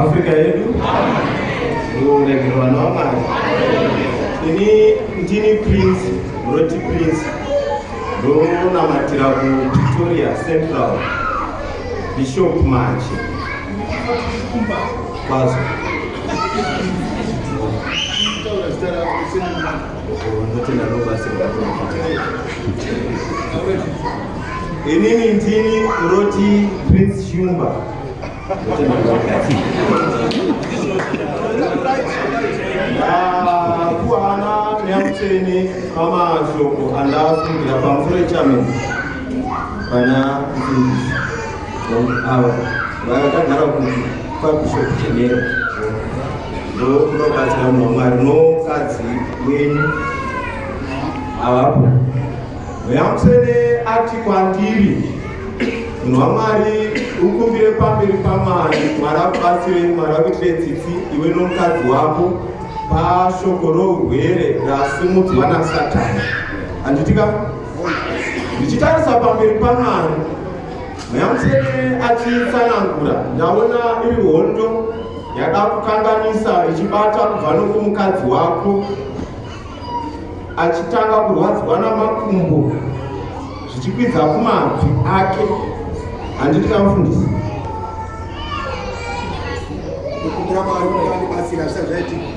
Afrika yedu uregero vanhu vamwari ini ndini prince roti prince ndonamatira kupretoria central bishop mache kwazo Thank you. Inini ndini Roti Prince Shumba. Ah, kuhana neamuteni pamashoko andafungira pamusoro echamini pana ava vakagara kuti kwakuzokuchenera ndokunobatsira munhu wamwari nomukadzi wenyu avapo veamusene ati kwandiri munhu wamwari ukumbire pamberi pamwari mwari akubatsire mwari akuitire tsitsi iwe nomukadzi wako pashoko rourwere rasimudzwa nasatani handitika ndichitarisa pamberi pamwari Nyamuseni achitsanangura, ndaona iri hondo yada kukanganisa ichibata kubva nokumukadzi wako achitanga kurwadziwa namakumbo zvichikwidza kumabvi ake handiti kamufundisi kukumbira mwari kuti andibatsira zvisati zvaitika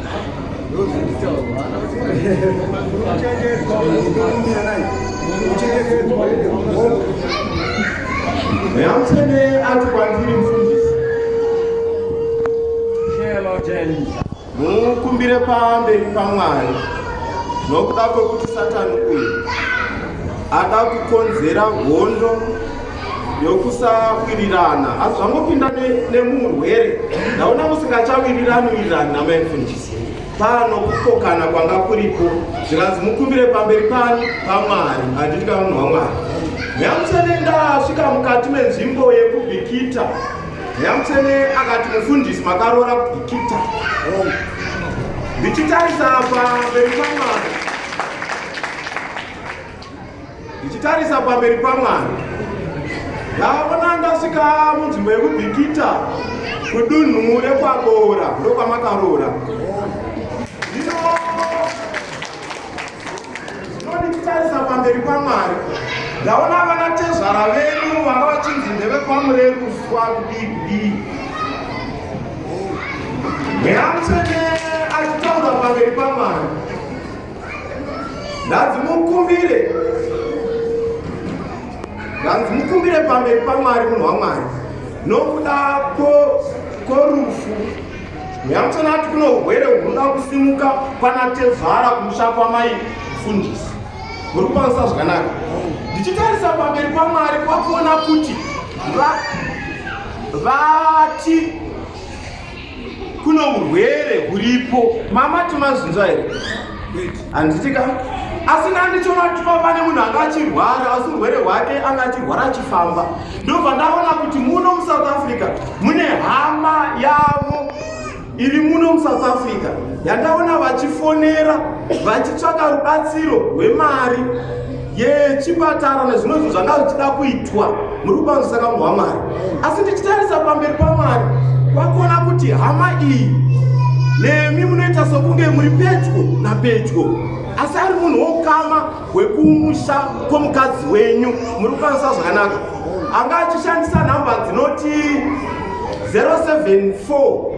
Yamtene ati kwandiri mfundisi. Shelo James. Mukumbire pamberi paMwari nokuda kwekuti Satani uyu ada kukonzera hondo yokusawirirana asi zvangopinda nemurwere ndaona musingachawirirani wirirani namaimfundisi pano kukokana kwanga kuripo zvikanzi mukumbire pamberi panyu pamwari handiti kamunhu wamwari nyamusene ndasvika mukati menzvimbo yekubikita nyamusene akati mufundisi makaroora kubikita ndichitarisa pamberi pamwari ndichitarisa pamberi pamwana ndaona ndasvika munzvimbo yekubikita kudunhu rekwaboora ndokwamakaroora ndinondichitarisa pamberi pamwari ndaona vana tezvara vedu vanga vachinzi ndevekwamurekuswa kudii mweya mutsvene achitaura pamberi pamwari ndanzi mukumbire ndanzi mukumbire pamberi pamwari munhu wamwari nokuda kworufu nyamutsana ati kuno urwere hunoda kusimuka kwana tezvara kumusha kwamai fundisi muri kukwanisa zvakanaka ndichitarisa pamberi pamwari kwakuona kuti vati kuno urwere huripo mama timazvinzwa here handitika asi nandichonatuma pane munhu anga achirwara asi urwere hwake anga achirwara achifamba ndobva ndaona kuti muno musouth africa mune hama yavo iri muno musouth africa yandaona vachifonera vachitsvaka rubatsiro rwemari yechipatara nezvimwe zvinhu zvanga zvichida kuitwa muri kukwanisa kamunhu wamwari asi ndichitarisa pamberi pamwari kwakuona kuti hama iyi nemi munoita sokunge muri pedyo napedyo asi ari munhu wokama hwekumusha kwomukadzi wenyu muri kukwanisa zvakanaka anga achishandisa nhamba dzinoti 074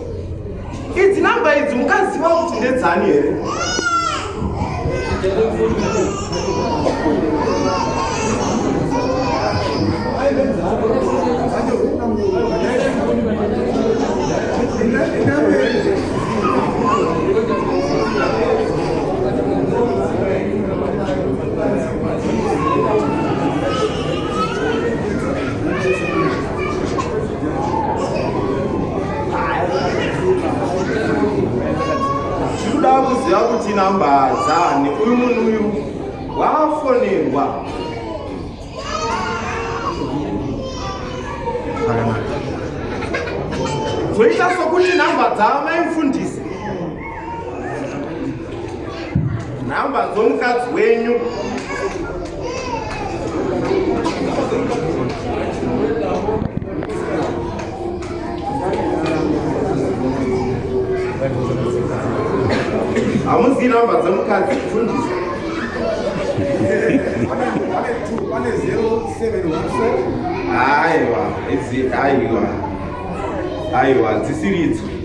idzi namba idzi mukaziva kuti ndedzani here tikuda kuziva kuti namba dzani uyu munhu uyu wafonerwa zvakanaka zvoita sokuti namba dzaamai mfundisi nhamba dzomukadzi wenyu hamuzi nhamba dzomukadzi kufundisa aiwa aiwa dzisiridzo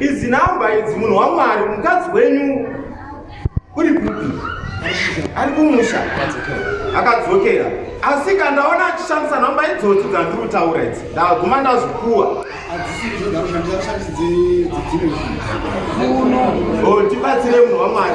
Idzi namba idzi munhu waMwari mukadzi wenyu uri kupi? Ari kumusha akadzokera asika ndaona achishandisa nhamba idzodzi dzandiri kutaura idzi ndaguma ndazvikuwa tibatsire munhu wamwari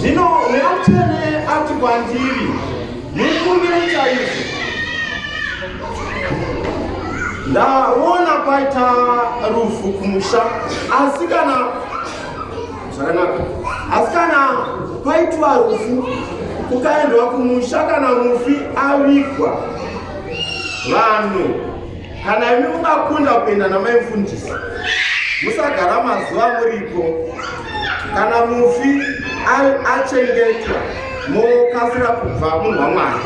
zvino mweya mutsvene ati kwandiri mukumbire chaizvo ndaona kwaita rufu kumusha asi kana zvakanaka asi kana paitwa rufu kukaendwa kumusha kana mufi avigwa vanhu kana imi mungakunda kuenda namai mfundisi musagara mazuva muripo kana mufi achengetwa mokasira kubva munhu wamwari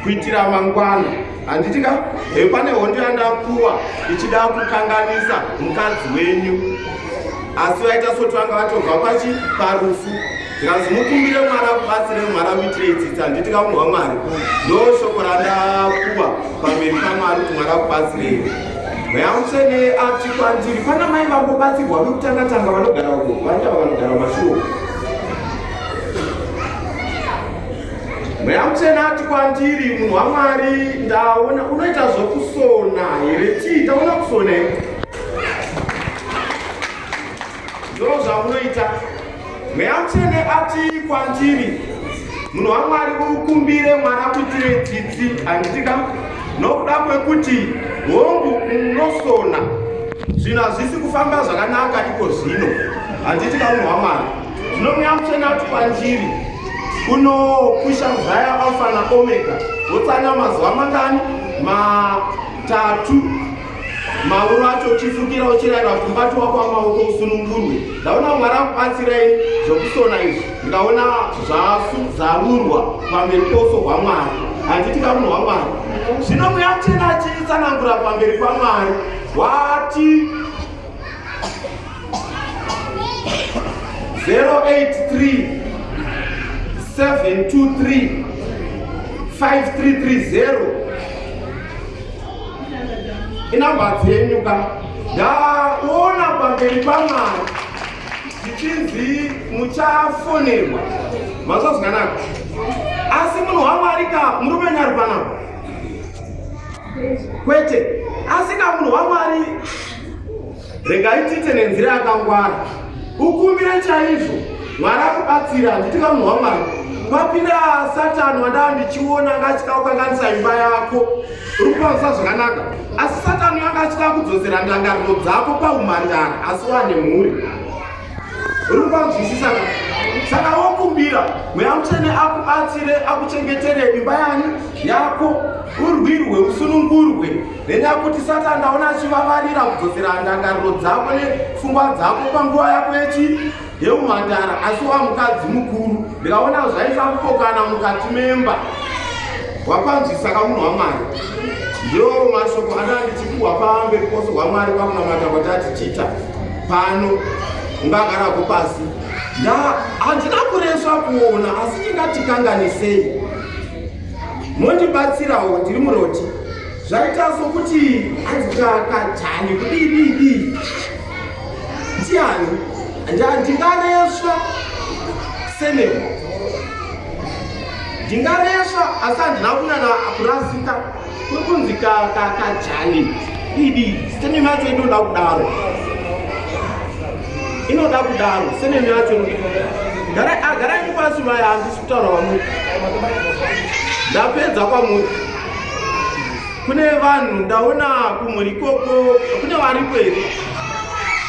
kuitira mangwana handiti ka he pane hondo yandakuwa ichida kukanganisa mukadzi wenyu asi vaita soti vanga vatobva pachi parufu ndikanzi mukumbire mwari akubatsire mwari akuitire itsitsi handiti ka munhu wamwari ndo shoko randakuwa pamberi pamwari kuti mwari akubatsirei mweya mutsvene ati kwandiri pana mai vangobatsirwa vekutanga tanga vanogara uko vaita vanogara mashuwo mweya mutsvena ati kwandiri munhu wamwari ndaona unoita zvokusona here chii ndaona kusona here ndoo zvamunoita mweya mutsvene ati kwandiri munhu wamwari ukumbire mwana kuitire dzidzi handitika nokuda kwekuti hongu unosona zvinhu hazvisi kufamba zvakanaka iko zvino handitika munhu wamwari zvino mweya mutsvene ati kwandiri unokusha muzaya alfa na omega wotsanya mazuva mangani matatu mauro acho uchifukira uchirayira kuti mubati wako wamaoko usunungurwe ndaona mwari akubatsirei zvokusona izvi ndikaona zvazarurwa pamberi pouso hwamwari handiti kamunhu hwamwari zvino mweya muchena achitsanangura pamberi pamwari wati 083 723 5330 inamba dzenyu ka ndaona pamberi pamwari zvichinzi muchafonerwa mazvazwanaka asi munhu wamwari ka murume nyari panapa kwete asi ka munhu wamwari Regai tiite nenzira yakangwara, ukumbire chaizvo Mwari akubatsira. Handiti kamunhu waMwari wapinda Satani wandaa ndichiona anga achida kukanganisa imba yako, uri kukwanisa zvakanaka, asi Satani anga achida kudzosera ndangariro dzako paumhandara, asi wane mhuri uri kukwanzwisisa ka saka wokumbira mweya mutsvene akubatsire akuchengetere imba yani yako urwirwe usunungurwe then akuti sata ndaona achivavarira kudzosera ndangariro dzako nepfungwa dzako panguva yako yechi yeumhandara asi wa mukadzi mukuru ndikaona zvaisa kupokana mukati memba wakwanzvisa ka munhu wamwari ndiwo mashoko anandichikuwa pambe kukoso hwamwari pakunamata kuti atichita pano ungagarako pasi nda handina kureswa kuona asi tingatikanganisei mondibatsirawo ndiri muroti zvaita sokuti anzikakajani kudididi ndiani ndingaresva seneo ndingaresva asi handina kunyana kurasika kwekunzi kakajani didi seneo yacho inoda kudaro inoda kudaro seneo yacho garai ah, pasi vaya handisi kutaura kwamuri ndapedza kwamuri kune vanhu ndaona kumhuri ikoko kune varipo here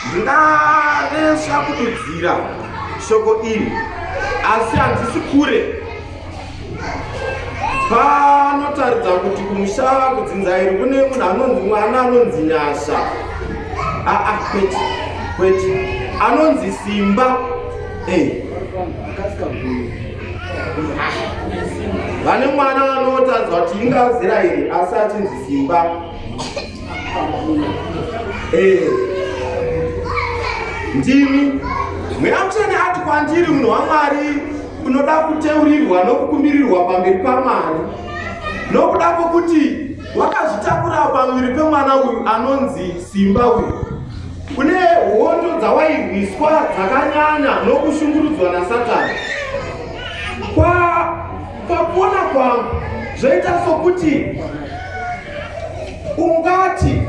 ndingaresha kududzira shoko iri asi handisi kure panotaridza kuti kumusha kudzinza iri kune munhu anonzi mwana anonzi nyasha aa ah, ah, kwete kwete anonzi simba e eh. vane mwana vanotanzwa kuti ingazira here asi achinzi simba eh. ndimi mweya mutsvene ati kwandiri munhu wamwari unoda kuteurirwa nokukumbirirwa pamberi pamwari nokuda kwokuti wakazvitakurawo pamuviri pemwana uyu anonzi simba uyu kune hondo dzawairwiswa dzakanyanya nokushungurudzwa nasatani pakuona kwangu zvoita sokuti ungati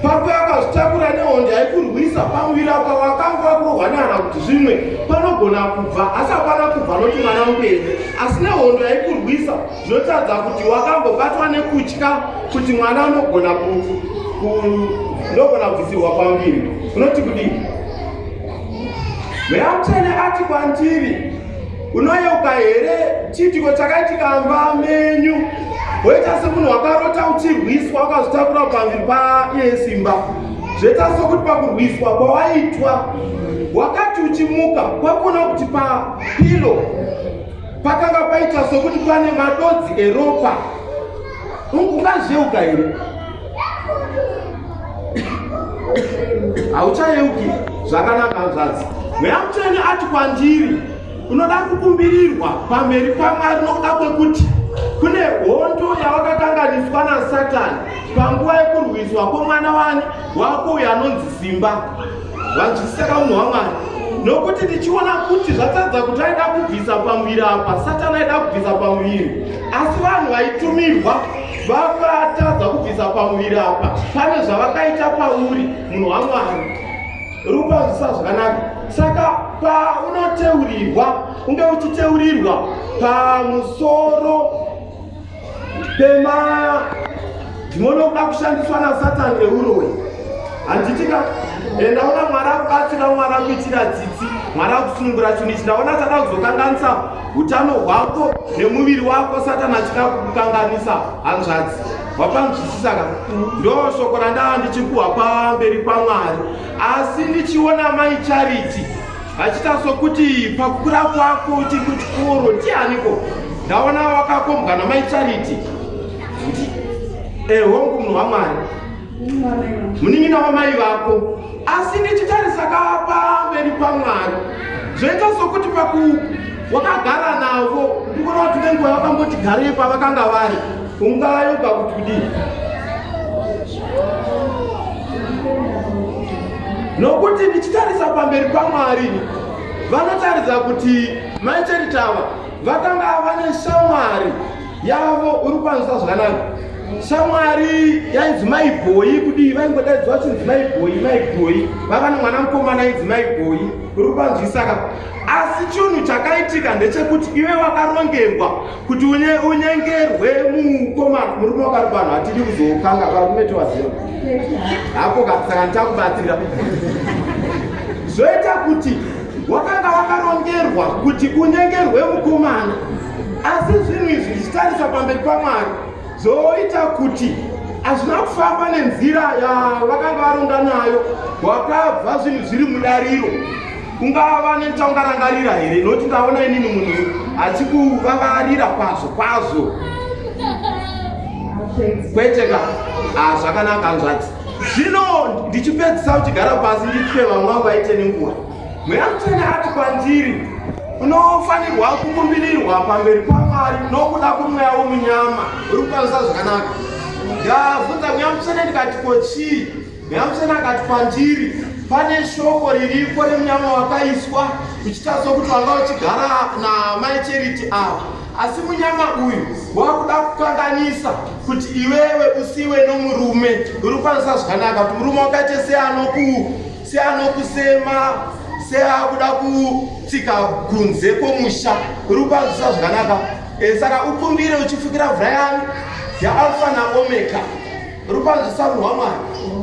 pako yakazvitakura nehondo yaikurwisa pamuviri apa wakanga wakurohwa nehana kuti zvimwe panogona kubva asi hapana kubva noti mwana mupenyu asi nehondo yaikurwisa Zvotadza kuti wakambobatwa nekutya kuti mwana unogona unogona kubvisirwa kwamuviri unoti kudii mweya mutsvene ati kwandiri unoyeuka here chiitiko chakaitika mba menyu woita semunhu wakarota uchirwiswa ukazvitakura pamuviri paiye simba zvoita sokuti pakurwiswa kwawaitwa wakati uchimuka kwakuona kuti papilo Pakanga paita sokuti pane madodzi eropa. Ungazheuka here? Hauchayeuki zvakanaka hanzvadzi. Mweya mutsvene ati kwandiri, unoda kukumbirirwa pamberi paMwari nokuda kwekuti kune hondo yawakakanganiswa naSatani panguva yekurwiswa kwomwana wani wako uyo anonzi Simba. vanzwisisa kaunhu hwamwari nokuti ndichiona kuti zvatadza kuti aida kubvisa pamuviri apa satani aida kubvisa pamuviri asi vanhu vaitumirwa vakatadza kubvisa pamuviri apa pane zvavakaita pauri munhu wamwari rupanzwisa zvakanaka saka paunoteurirwa unge uchiteurirwa pamusoro Pema ndinonoda kushandiswa na Satan neuroyi. Handitika enda eh, ona mwari akubatsira mwari akuitira tsitsi mwari akusunungura chinhu ichi ndaona achada kuzokanganisa utano hwako nemuviri wako satani achida kukukanganisa hanzvadzi wapanzwisisa ka ndo shoko randaa ndichikuhwa pamberi pamwari asi ndichiona mai charity Achita sokuti pakukura kwako uchiri kuchikoro ndianiko? Ndaona wakakombwa namai Charity. Eh, hongu munhu waMwari. Munin'ina wamai vako. Asi ndichitarisa kapa mberi kwaMwari. Zvoita sokuti paku wakagara navo ndikuona kuti nenguva vakamboti garei pavakanga vari. Ungava yoga kuti kudii? nokuti ndichitarisa pamberi pamwari vanotaridza kuti mai cheritava vakanga vane shamwari yavo uri kukwanisa zvakanaka shamwari yainzi mai bhoyi kudii vaingodaidzwa vachinzi mai bhoyi mai bhoyi vava nemwana mukomana ainzi mai bhoyi uri kukwanzwisaka asi chinhu chakaitika ndechekuti iwe wakarongerwa kuti unyengerwe mukoma murume wakati vanhu hatidi kuzokanga varume tovaziva hako kasaka ndichakubatsira zvoita kuti wakanga wakarongerwa kuti unyengerwe mukomana asi zvinhu izvi zvichitarisa pamberi pamwari zvoita kuti hazvina kufamba nenzira yavakanga varonga nayo wakabva zvinhu zviri mudariro Ungava netaungarangarira here noti ndaona inini munhu achikuvavarira kwazvo kwazvo kwete ka ah, zvakanaka nzvati zvino ndichipedzisa kuchigara pasi ndichipe vamwe vangu vaite nenguva mweya mutene ati kwandiri unofanirwa kukumbirirwa pamberi pamwari nokuda kwemweya womunyama uri kukwanisa zvakanaka ndavhunza mweya mutene ndikati ko chii Nyamuchena akati kwandiri, pane shoko riripo remunyama wakaiswa uchita sokuti wanga uchigara naamai Charity ava, asi munyama uyu wakuda kukanganisa kuti iwewe usiwe nomurume uri kukwanisa zvakanaka, kuti murume wakaite seanokusema seakuda kutsika kunze kwomusha uri kukwanisa zvakanaka. E, saka ukumbire uchifukira vhura yanu yaAlfa naOmega Rupanzi samu hwamwari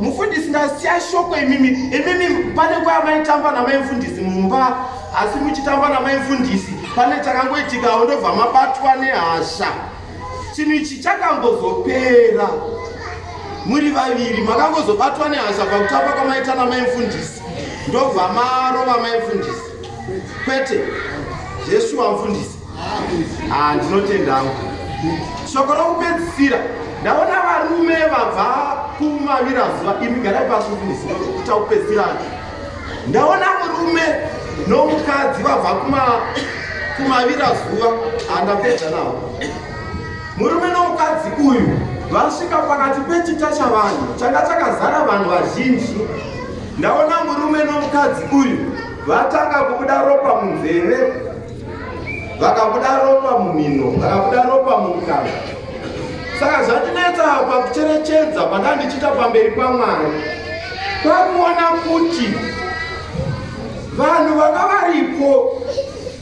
mufundisi ndasiya shoko imimi imimi pane kwaya maitamba namai mfundisi mumba asi muchitamba namai mfundisi pane chakangoitikawo ndobva mabatwa nehasha chinhu ichi chakangozopera muri vaviri makangozobatwa nehasha pakutamba kwamaita namai mfundisi ndobva marova mai mfundisi kwete zvesuwa mfundisi Ah, ndinotenda hangu shoko rokupedzisira ndaona varume vabva kumavira zuva imi garai pasi kuita kupedzisira ndaona murume nomukadzi vabva kumavira zuva andapedza ah, nawo murume nomukadzi uyu vasvika pakati pechita chavanhu changa chakazara vanhu vazhinji ndaona murume nomukadzi uyu vatanga kubuda ropa munzeve vakabuda ropa mumino vakabuda ropa mumukana saka zvandinetsa pakucherechedza pandandichiita pamberi pamwari kwakuona kuti vanhu vanga varipo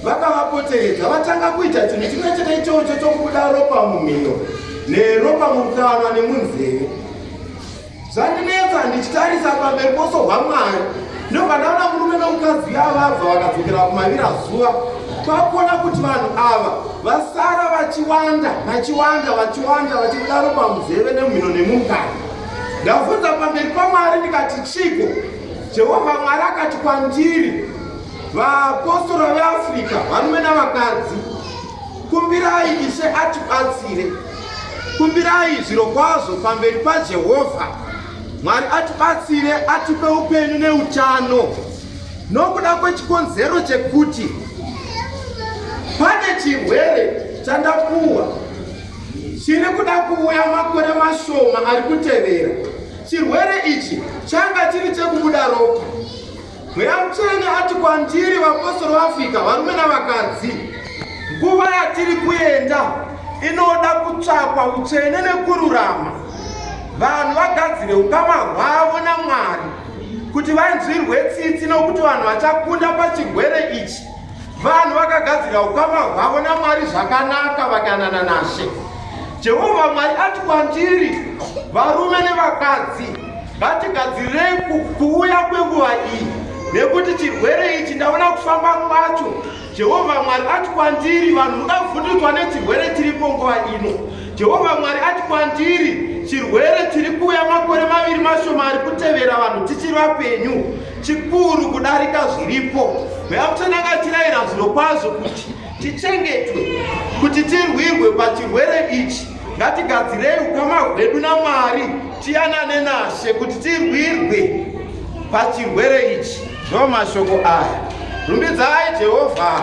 vakavapoteredza vatanga kuita chinhu chimwe chete ichocho chokubuda ropa mumino neropa mukanwa nemunzeve zvandinetsa ndichitarisa pamberi poso hwamwari ndobva ndaona murume nomukadzi yavabva vakadzokera kumavira zuva kwakuona kuti vanhu ava vasara vachiwanda vachiwanda vachiwanda vachidaro pamuzeve nemhino nemukadzi ndavhunza pamberi pamwari ndikati chiko jehovha mwari akati kwandiri vaapostora veafrica varume navakadzi kumbirai ishe atibatsire Kumbirai zvirokwazvo pamberi paJehovha Mwari atibatsire, atipe upenyu neutano nokuda kwechikonzero chekuti pane chirwere chandapuwa chiri kuda kuuya makore mashoma ari kutevera. Chirwere ichi changa chiri chekubuda ropa Mweya Mutsvene ati kwandiri, vapostori vaAfrica, varume navakadzi, nguva yatiri kuenda inoda kutsvakwa utsvene nekururama, vanhu vagadzire ukama hwavo naMwari kuti vanzwirwe tsitsi, nokuti vanhu vachakunda pachirwere ichi vanhu vakagadzira ukama hwavo namwari zvakanaka vakanana nashe jehovha mwari ati kwandiri varume nevakadzi ngatigadzirirei kuuya kwenguva iyi nekuti chirwere ichi ndaona kufamba kwacho jehovha mwari ati kwandiri vanhu muda kuvhundutswa nechirwere chiripo nguva ino jehovha mwari ati kwandiri chirwere chiri kuuya makore maviri mashoma ari kutevera vanhu tichiri vapenyu chikuru kudarika zviripo veakutonakatiraira zvirokwazvo kuti tichengetwe kuti tirwirwe pachirwere ichi ngatigadzirei ukama hwedu namwari tiyanane nashe kuti tirwirwe pachirwere ichi ndo mashoko aya rumbidzai jehovha